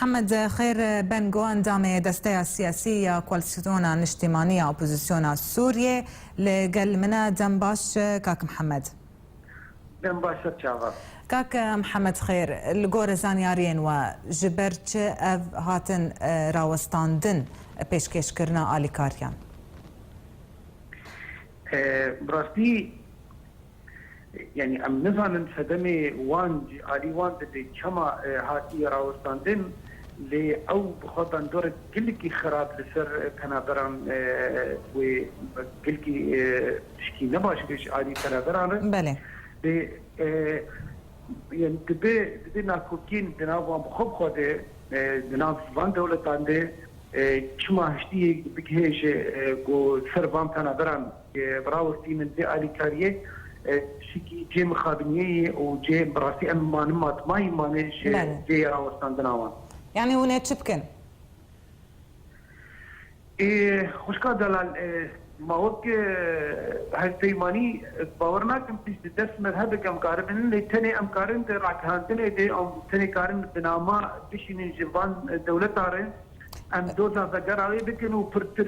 Mihemed Xêr Bengo endamê desteya siyasî ya Koalîsyona Niştîmanî ya Opozîsyona Sûriyê li gel min e. Dem baş kak Mihemed. Dem baş e çavan. Kak Mihemed Xêr, li gorî zanyariyên we ji ber çi ev hatin rawestandin pêşkêşkirina alîkariyan? Bi rastî Yanî em nizanin sedemê wan jî alî wan dibê çima hatiye rawestandin lê ew bi xwe bandorek gilikî xirab li ser penaberan wê gilikî tişkî ne baş bê ji alî penaberan re lê yanî dibê dibê nakokiyên di nav wan bi xwe bi xwe de di nav van dewletan de çima hiştiyê bigihêje ku li ser van penaberan Bi rawestî min vê alîkariyê tiştî cê mixabiniyê yê û cê bi rastî em manin ma di mayî manê ji cê ya rawestandina wan. Yanî hûn ê çi bikin? Ê xwişka Delal ma wek hevpeymanî bawer nakim pişt di dest mezheb eke em karibin lê tenê em karin di ragihandinê de em tenê karin bi nama bişînin ji van dewleta re em doza vegera wê bikin û pirtir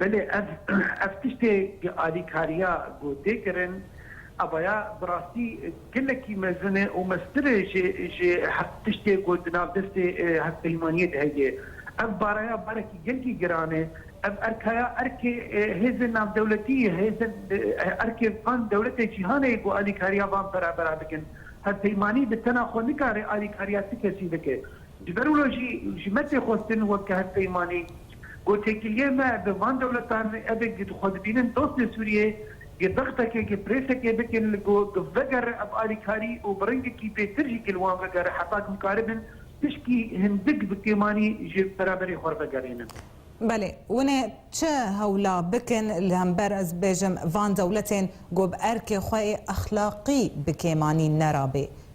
Belê ev ev tiştê bi alîkariya ku tê kirin avaya bi rastî gelekî mezin e û meztir e ji ji her tiştê ku di nav destê hevpeymaniyê de heye. Ev baraya barekî gelkî giran e. Ev erkaya erkê hêzên navdewletî ye, hêzên erkê van dewletê cîhanê ye ku alîkariya van perabera bikin. Hevpeymanî bi tena xwe nikare alîkariya ti kesî bike. Ji ber wilo jî ji me tê xwestin weke hevpeymanî ku têkiliyên me bi van dewletan evê ku xwe dibînin dost li Sûriyê yê dextekê ku pirêsekê bikin li ku vegere ev alîkarî û bi rengekî bêtir jî ku li wan vegere heta ku bikaribin tişkî hindik bi kêmanî ji beraberê xwe re vegerînin. Belê, winê çi hewla bikin li hember ez bêjim van dewletên ku bi erkê xwe ê exlaqî bi kêmanî nerabê?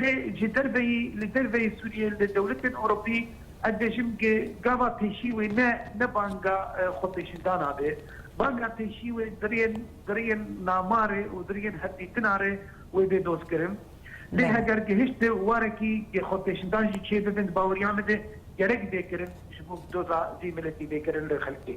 Lê ji derveyî li derveyî Sûriyê li dewletên Ewropî ez dibêjim ke gava pêşî wê ne ne banga xwepêşindana be. Banga pêşî wê di rêyên nama re û di rêyên hevdîtina re wê bê dozkirin. Lê heger gihişt warekî ke xwepêşindan jî çê bibin di baweriya min de gerek bê kirin ji bo doza vê miletî bê kirin li xelkê.